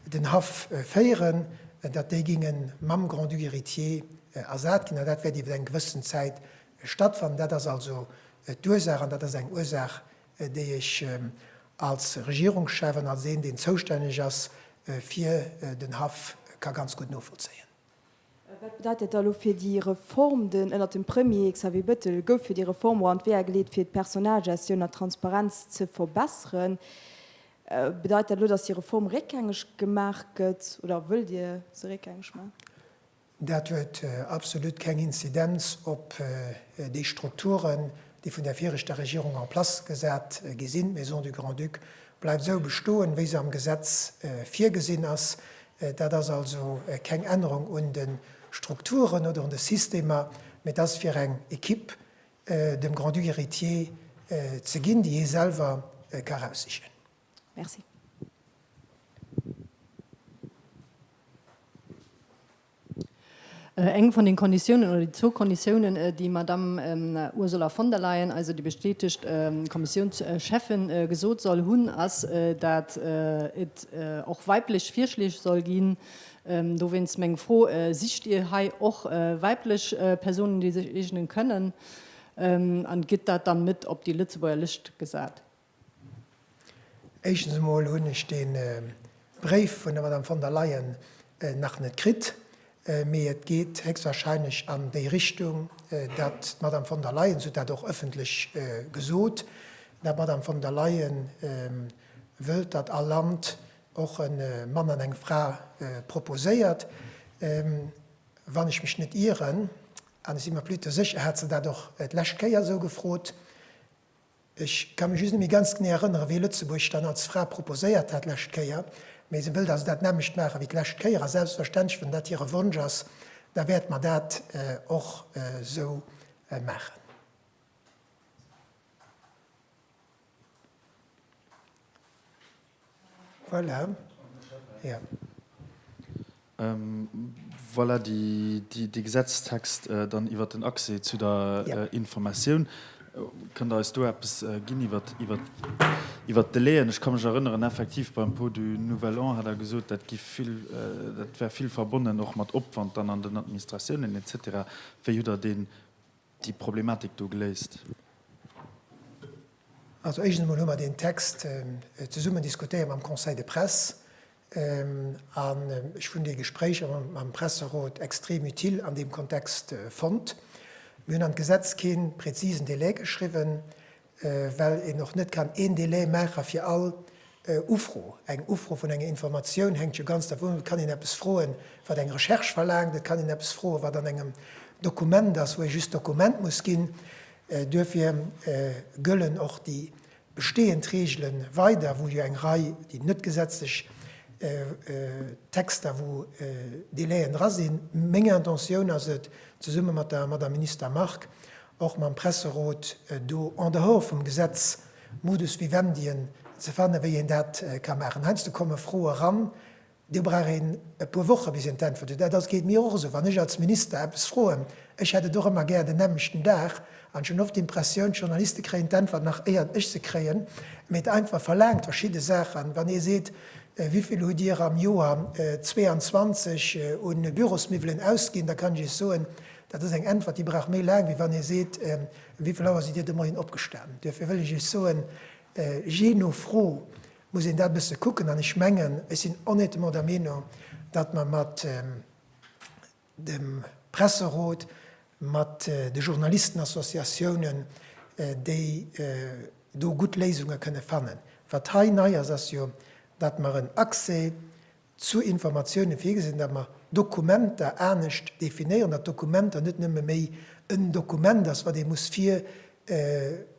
den Haff féieren, datt déi géinge mam Grand-Duc héritier ersat ginn, an dat wäert iwwer eng gewëssen Zäit stattfannen. Dat ass also d'Ursaach, an dat ass eng Ursaach, déi ech als Regierungschef an als een, deen zoustänneg ass fir den Haff, ka ganz gutt novollzéien. Wat bedeit dat da elo fir déi Reform? Den ënnert dem Premier Xavier Bettel gouf jo déi Reform och an d'Weeër geleet, fir d'Personalgestioun an d'Transparenz ze verbesseren. Bedeit dat elo, datt déi Reform réckgängeg gemaach gëtt, oder wëllt Dir se réckgängeg maachen? Dat huet absolut keng Inzidenz op déi Strukturen, déi vun der viregter Regierung en place gesat gi sinn. D'Maison du Grand-Duc bleift esou bestoen, wéi se am Gesetz virgesinn ass. Dat ass also keng Ännerung un de Strukturen oder un de Systemer, mä et ass fir eng Equipe dem Grand-Duc héritier ze ginn, déi hie selwer ka eraussichen. Merci. Eng vun den Konditiounen, oder déi zwou Konditiounen, déi d'Madamm Ursula von der Leyen, also déi bestätegt Kommissiounscheffin, gesot soll hunn, ass, datt et och weiblech Virschleeg soll ginn. Dowéinst meng Fro, Sicht Dir hei och weiblech Persounen, déi sech eegnen kënnen? An gëtt dat dann net op déi Lëtzebuerger Lëscht gesat? Éischtens emol hunn ech dee Bréif vun der Madame von der Leyen nach net kritt, mee et geet héchstwahrscheinlech an déi Richtung, datt d'Madame von der Leyen, se huet dat och ëffentlech gesot, datt d'Madame von der Leyen wëllt, datt all Land och e Mann an eng Fra proposéiert, wann ech mech net ieren, an ech si mer plutôt sécher, hat se dat och d'lescht Kéier esou gefrot, Ech ka mech just net méi ganz genee erënneren, wéi Lëtzebuerg dann als Fra proposéiert hat d'lescht Kéier, mee se wëllt also dat nämmlecht maachen, wéi d'lescht Kéier. A selbstverständlech, wann dat hire Wonsch ass, da wäerte mer dat och esou maachen. Voilà. Yeah. Voilà de Gesetzestext dann iwwert den Accès zu der Informatioun. Kënnt Der eis do eppes ginn iwwert d'Delaien? Ech ka mech erënneren, effektiv beim Pot du nouvel an hat Der gesot, dat gi vill, dat wär vill verbonnen och mat Opwand dann an den Administratiounen, et cetera. Wéi hutt Der deen déi Problematik do geléist? Also éischtens emol hu mer deen Text zesummen diskutéiert mam Conseil de presse an ech hunn déi Gespréicher mam Presserot extrem utile an deem Kontext fonnt. Mir hunn an d'Gesetz kee präzisen Délai geschriwwen, well een och net kann een Délai maache fir all Ufro. Eng Ufro vun enger Informatioun hänkt jo ganz dervun of, et kann een eppes froen, wat eng Recherche verlaangt, et kann een eppes froen, wat an engem Dokument ass, wou ee just d'Dokument muss ginn. Duerfir gëllen och déi bestehend Regele weider, wou jo eng Rei, déi net gesetzlech Texter, wou Délaien dra sinn. Meng Intentioun ass et, zesumme mat der Madame Minister Margue, och mam Presserot do en dehors vum Gesetz Modus Vivendien ze fannen, wéi een dat ka maachen. Heiansdo komme Froe eran, do brauch een e puer Woche bis een d'Äntwert huet. Dat ass, geet mir och esou, wann ech als Minister eppes froen, ech hätt et och ëmmer gär den nämmlechten Dag, an ech hunn oft d'Impressioun, d'Journaliste kréien d'Äntwert nach éier ech se kréien, mee d'Äntwert verlaangt verschidde Saachen. Wann ee seet, wéi vill hutt Dir am Joer 22 u Bürosmiwwelen ausginn, da kann ech Iech soen, Dat ass eng Äntwert, déi brauch méi laang, wéi wann ee seet, Wéi vill Auer sidd Dir de Moien opgestanen? Duerfir wëll ech Iech soen, Jee no Fro muss een dat e bësse kucken. An ech mengen, ech sinn honnêtement der Meenung, datt mer mat dem Presserot, mat de Journalistenassociatiounen, déi do gutt Léisunge kënne fannen. Wat hei nei ass, ass jo, datt mer en Accès Zu Informatiounen virgesinn, datt mer Dokumenter anescht definéieren, datt Dokumenter net nëmme méi en Dokument ass, wat ee muss vir,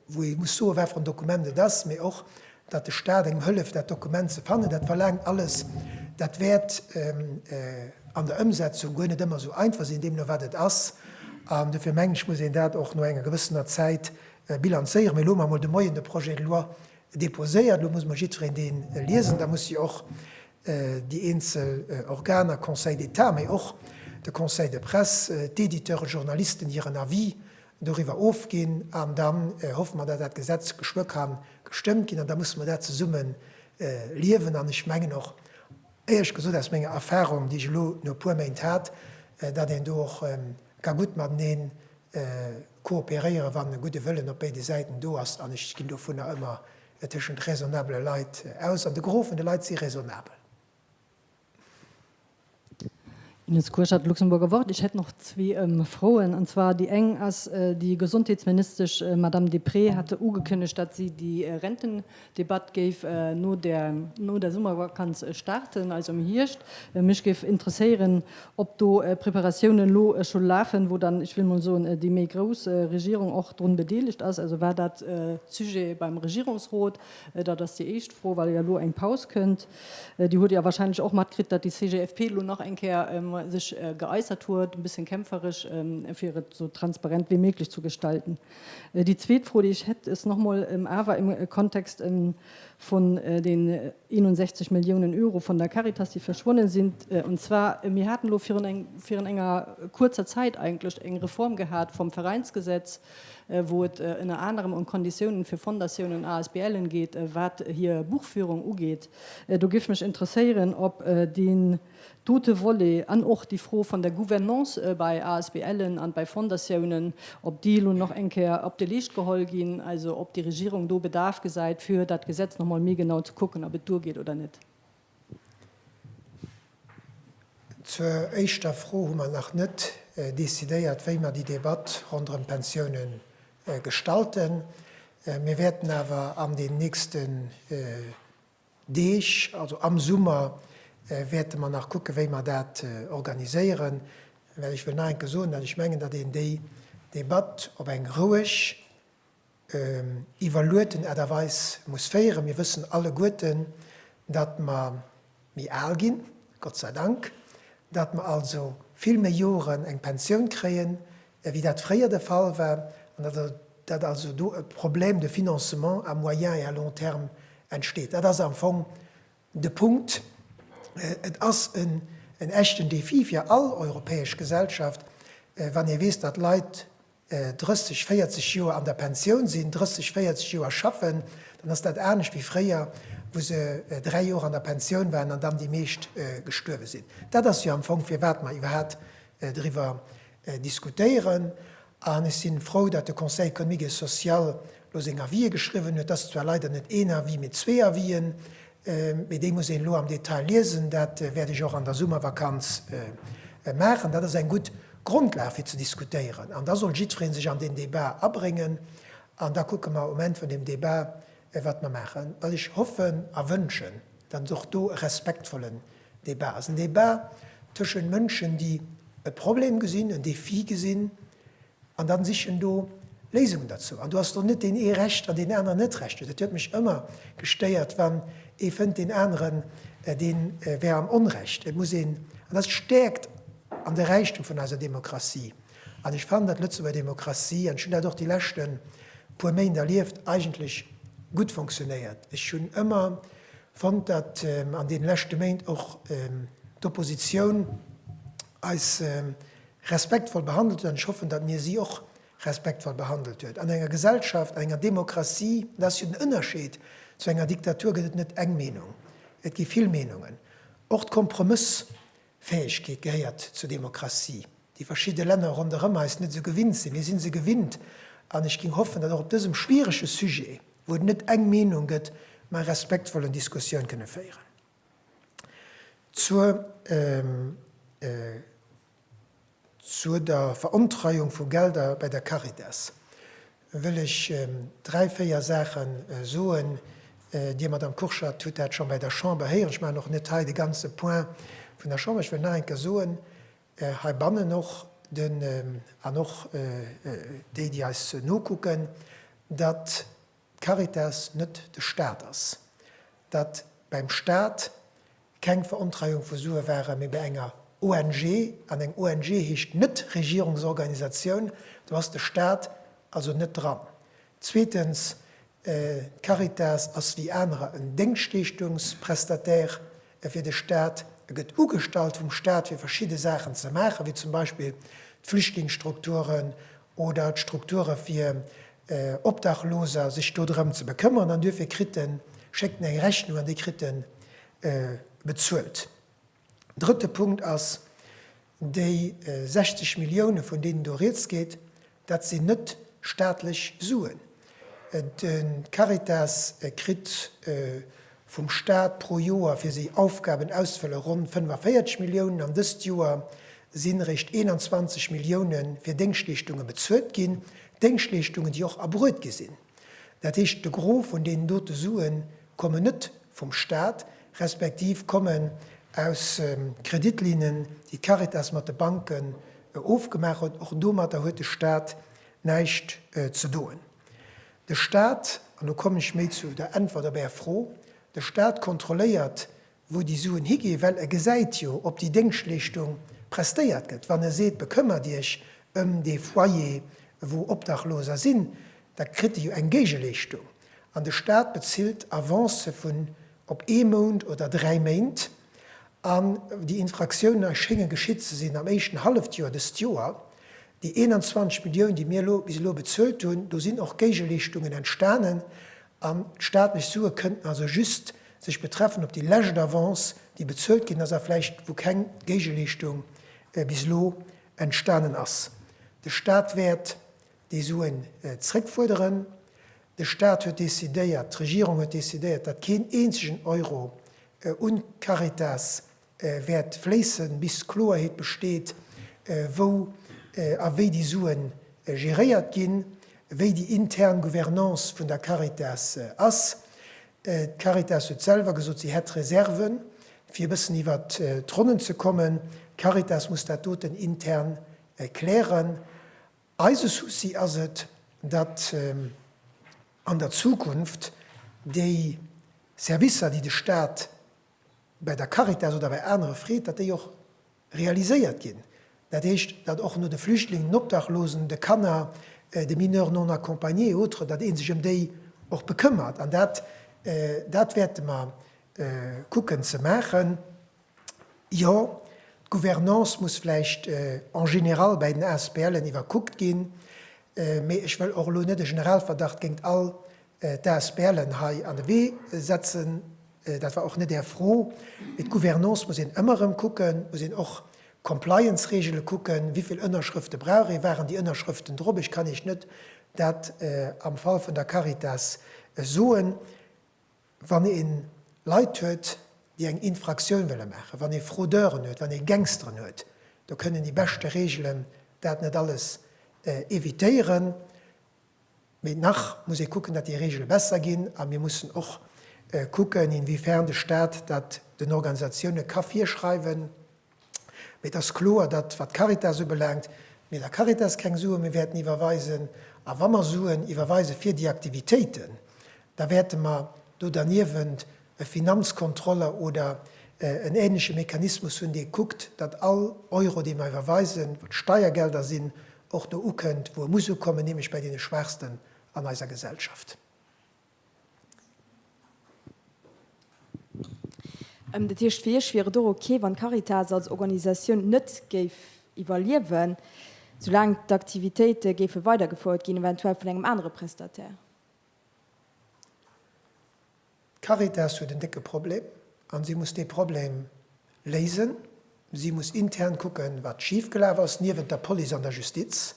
wou ee muss soen, wat fir en Dokument et ass, mee och, datt de Staat engem hëlleft, dat Dokument ze fannen. Dat verlaangt alles. Dat wäert an der Ëmsetzung guer net ëmmer esou einfach sinn, deemno wat et ass. An dofir mengen ech, muss een dat och no enger gewëssener Zäit bilanzéieren. Mee loosse mer emol de Moien de Projet de loi Deposéiert. Elo muss mol jiddwereen dee liesen. Da muss jo och déi eenzel Organer, Conseil d'État, mee och de Conseil de presse, d'Editeure, Journalisten, hiren Avis doriwwer ofginn. An da hoffe mer, datt dat Gesetz geschwë kann gestëmmt ginn. An da musse mer dat zesumme liewen. An ech mengen och, éierlech gesot, aus menger Erfahrung, déi ech elo no e puer Méint hat, datt een do och ka gutt matenee kooperéieren, wann e gudde Wëllen op béide Säiten do ass, an ech ginn dovunner ëmmer tëschent raisonnabele Leit aus, an de Gros vun de Leit si raisonnabel. Ines Kurschat, Luxemburger Wort, Ech hätt nach zwee Froen, an zwar déi eng ass, déi Gesondheetsministesch Madame Deprez hat ugekënnegt, datt si déi Renten, D'Debatt géif no der no der Summervakanz starten, also am Hierscht. Mech géif interesséieren, ob do Preparatiounen elo scho lafen, wou dann, ech wëll mol soen, déi méi grouss Regierung och drun bedeelegt ass. Also war dat Sujet beim Regierungsrot? Dat ass déi éischt Fro, well jo elo eng Paus kënnt. Dir hutt jo wahrscheinlech och matkritt, datt déi CGFP elo nach eng Kéier sech geäussert huet, e bëssen kämpferesch, fir et esou transparent wéi méiglech ze gestalten. Déi zweet Fro, déi ech hätt, ës nach emol, awer im Kontext vun den 61 Milliounen Euro vun der Caritas, déi verschwonnen sinn. Und zwar, mir haten elo virun eng, virun enger kuerzer Zäit eigentlech eng Reform gehat vum Veräinsgesetz, wou et ënner anerem ëm Konditiounen fir Fondatiounen, ASBLen geet, wat hir Buchführung ugeet. Do géif mech interesséieren, ob deen, Dote Volet an och déi Fro van der Gouvernance bei ASBLen an bei Fondatiounen, ob déi elo nach eng Kéier op de Leescht geholl gin, also ob déi Regierung do Bedarf gesäit, fir dat Gesetz nach emol méi genau ze kucken, ob et duergeet oder net. Zur éischter Fro hu mer nach net décidéiert, wéi mer déi Debatt ronderëm d'Pensiounen gestalten. Mir wäerten awer an den nächsten Deeg, also am Summer, wäerte mer nach kucken, wéi mer dat organiséieren, well ech wëll nach eng Kéier soen, datt ech mengen, datt een déi Debatt op eng roueg, iwwerlueten Aart a Weis muss féieren. Mir wëssen alleguerten, datt mer méi al ginn, Gott sei Dank, datt mer also vill méi Joren eng Pensioun kréien, wéi dat fréier de Fall war, an datt also do e Problème de financement à moyen et à long terme entsteet. Dat ass am Fong de Punkt. Et ass en echten Défi fir all europäesch Gesellschaft, wann ee weess, datt Leit 30, 40 Joer an der Pensioun sinn, 30, 40 Joer schaffen, dann ass dat anescht wéi fréier, wou se dräi Joer an der Pensioun waren an dann déi meescht gestuerwe sinn. Dat ass jo am Fong, firwat mer iwwerhat driwwer diskutéieren an ech sinn frou dat de Conseil économique et social elo seng Avisë geschriwwen huet. Dat ass zwar leider net een Avis, mee zwee Avis'en, mee déi muss een elo am Detail liesen. Dat wäert ech och an der Summervakanz maachen. Dat ass eng gutt Grondlag fir ze diskutéieren an da soll jiddweree sech an deen Débat abréngen an da kucke mer um Enn vun deem Débat wat mer maachen. Wat ech hoffen a wënschen, dat ass och do e respektvollen Debat ass en Debat tëschent Mënschen, déi e Problem gesinn, en Défi gesinn an dann sichen do Léisungen derzou. An do ass do net deen ee Recht an deen aneren net Recht huet. Et huet mech ëmmer gestéiert, wann ee fënnt deen aneren dee wär am Onrecht. Et muss een, an dat ass d'Stärkt an de Räichtum vun eiser Demokratie, an ech fannen, datt d'Lëtzebuerger Demokratie, an ech hunn dat och déi leschte puer Méint erlieft, eigentlech gutt fonctionnéiert. Ech hunn ëmmer Fonnt, datt an deene leschte Méint och d'Oppositioun eis respektvoll behandelt huet, an ech hoffen, datt mir si och respektvoll behandelt huet an enger Gesellschaft, an enger Demokratie. Dat ass jo den Ënnerscheed zu enger Diktatur, gëtt et net eng Meenung, et gi vill Meenungen. Och d'Kompromëss Fäegkeet gehéiert zur Demokratie, déi verschidde Länner ronderëm eis net esou gewinnt sinn. Mir si se gewinnt an ech géing hoffen, datt och op dësem schwierege Sujet, wou et net eng Meenung gëtt, mer e respektvollen Diskussioun kënne féieren. Zur Zur der Verontreiung vu Gelder bei der Caritas wëll ech dräi, véier Saache soen. Dir, Madamm Kurschat, hutt dat scho bei der Chamber héieren. Ech maachen och net hei de ganze Point vun der Chamber. Ech wëll nach eng Kéier soen, heibannen och, an och déi, déi eis nokucken, datt d'Caritas net de Staat ass, datt bäim Staat keng Verontreiung vu Sue waren, mee bei enger ONG, an eng ONG heescht net Regierungsorganisatioun, do ass de Staat also net dran. Zweetens, d'Caritas ass wéi anerer en Déngschtleeschtungsprestataire fir de Staat. E gëtt ugestallt vum Staat fir verschidde Saachen ze maachen, wéi zum Beispill d'Flüchtlingsstrukturen oder d'Strukture fir Obdachloser, sech do drëm ze bekëmmern an duerfir kritt en, schéckt en eng Rechnung an déi kritt en bezuelt. Drëtte Punkt ass, Déi 60 Milliounen, vun deenen do Rieds geet, dat sinn net staatlech Suen. D'Caritas kritt vum Staat pro Joer fir séi Aufgaben auszefëllen ronn 45 Milliounen an dëst Joer si réischt 21 Millioune fir Déngschtleeschtunge bezuelt ginn, Déngschtleeschtungen déi och erbruet gi sinn. Dat heescht de Gros vun deenen dote Sue kommen net vum Staat, respektiv kommen aus Kreditlinnen déi d'Caritas mat de Banken ofgemaach huet. Och domatter huet de Staat Näischt ze doen. De Staat, an do kommen ech méi zu der Äntwert op Är Fro, de Staat kontrolléiert, wou déi Suen higeen, well e gesäit jo, ob déi Déngschtleeschtung prestéiert gëtt. Wann e seet, bekëmmert Iech ëm dee Foyer, wou Obdachloser sinn, da kritt e jo eng Géigeleeschtung. An de Staat bezilt Avancë vun op ee Mount oder dräi Méint. An déi Infraktioune schénge geschitt ze sinn am éischten Hallefjoer dëst Joer. Déi 21 Milliounen, déi mir elo bis elo bezuelt hunn, do sinn och Géigeleeschtungen entstanen. An d'staatlech Sue kënnten also just sech betreffen op déi lescht Avance, déi bezuelt ginn ass a vläicht wou keng Géigeleeschtung bis elo entstanen ass. De Staat wäert déi Suen zrëckfuerderen. De Staat huet decidéiert, d'Regierung huet decidéiert, datt keen eenzegen Euro un d'Caritas wäert fléissen, bis Kloerheet besteet, wou a wéi déi Sue geréiert ginn, wéi déi intern Gouvernance vun der Caritas ass. D'Caritas huet selwer gesot, si hätt Reserven, fir e bëssen iwwer d'Ronnen ze kommen. D'Caritas muss dat doten intern klären. Eise Souci ass et, datt an der Zukunft déi Servicer, déi de Staat bäi der Caritas oder bäi anere freet, datt déi och realiséiert ginn. Dat heescht, datt och no de Flüchtlingen, den Obdachlosen, de Kanner, de Mineurs non accompagnés et autres, datt ee sech ëm déi och bekëmmert. An dat, dat wäerte mer kucken ze maachen. Jo, d'Gouvernance muss vläicht en général bäi den ASBLen iwwerkuckt ginn, mee ech wëll och elo net e Generalverdacht géingt all d'ASBLen hei an de Wee setzen. Dat war och net Är Fro. Mee d'Gouvernance muss een ëmmer erëm kucken, muss een och d'Compliance-Regele kucken, wéi vill Ënnerschrëfte brauch ee, waren déi Ënnerschrëften drop. Ech kann Iech net dat am Fall vun der Caritas soen. Wann ee Leit huet, déi eng Infraktioun wëlle maachen, wann ee Fraudeuren huet, wann ee Gangsteren huet, do kënnen déi beschte Reegelen dat net alles evitéieren. Mee nach muss ee kucken, datt déi Reegele besser ginn. A mir mussen och kucken, inwiefern de Staat dat den Organisatioune ka virschreiwen. Mee et ass kloer, datt, wat d'Caritas ubelaangt, mir der Caritas keng Sue méi wäerten iwwerweisen. A wa mer Suen iwwerweise fir déi Aktivitéiten, da wäerte mer do derniewent e Finanzkontroller oder en änleche Mechanismus hunn, dee kuckt, datt all Euro, dee mer iwwerweisen, wat Steiergelder sinn, och do ukënnt, wou e muss ukommen, nämlech bei deene Schwaachsten an eiser Gesellschaft. Dat heescht, fir Iech wier et och ok, wann d'Caritas als Organisatioun net géif iwwerliewen, soulaang d'Aktivitéite géife weidergefouert ginn, eventuell vun engem anere Prestataire? D'Caritas huet en décke Problem a si muss dee Problem léisen. Si muss intern kucken, wat schifgelaf ass, niewent der Police an der Justiz.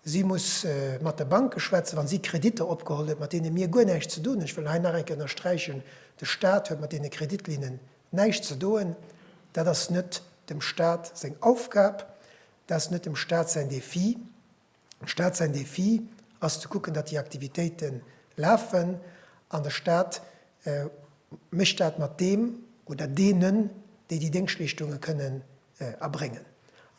Si muss mat de Banke schwätzen, wa si Kreditter opgeholl huet, mat deene mir guer näischt ze doen hunn. Ech wëll hei nach eng Kéier ënnersträichen, De Stat huet mat deene Kreditlinnen näischt ze doen. Dat ass net dem Stat seng Aufgab. Dat ass net dem Stat säin Defi. Staat säin Defi ass ze kucken, datt déi Aktivitéite lafen, an de Staat mécht dat mat deem oder deenen, déi déi Déngschtleeschtunge kënnen erbréngen.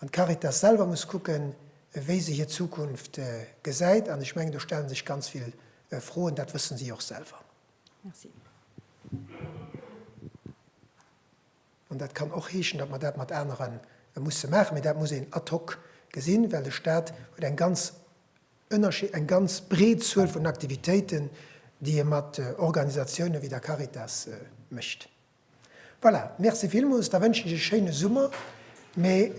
An d'Caritas selwer muss kucken, wéi se hir Zukunft gesäit. An ech mengen, do stelle sech ganz vill Froen, dat wësse si och selwer. Merci. An dat kann och heeschen, datt mer dat mat anere musse maachen. Mee dat muss een ad hoc gesinn, well de Stat huet eng ganz ënnerschi-, eng ganz breet Zuel vun Aktivitéiten, déi e mat Organisatiounen wéi der Caritas mécht. Voilà, Merci villmools. Da wënschen ech e schéine Summer. Mee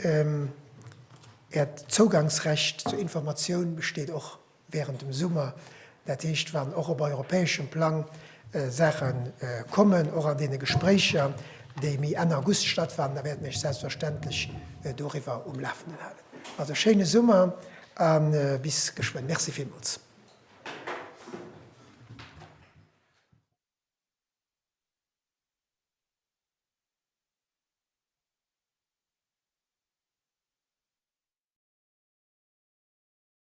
Äert Zougangsrecht zur Informatioun besteet och. wärend dem Summer, dat heescht wann och op europäeschem Plang Saache kommen, och an deene Gespréicher, déi méi Enn August stattfannen, da wäerten ech selbstverständlech doriwwer um Lafenden halen. Also schéine Summer a bis geschwënn. Merci villmools.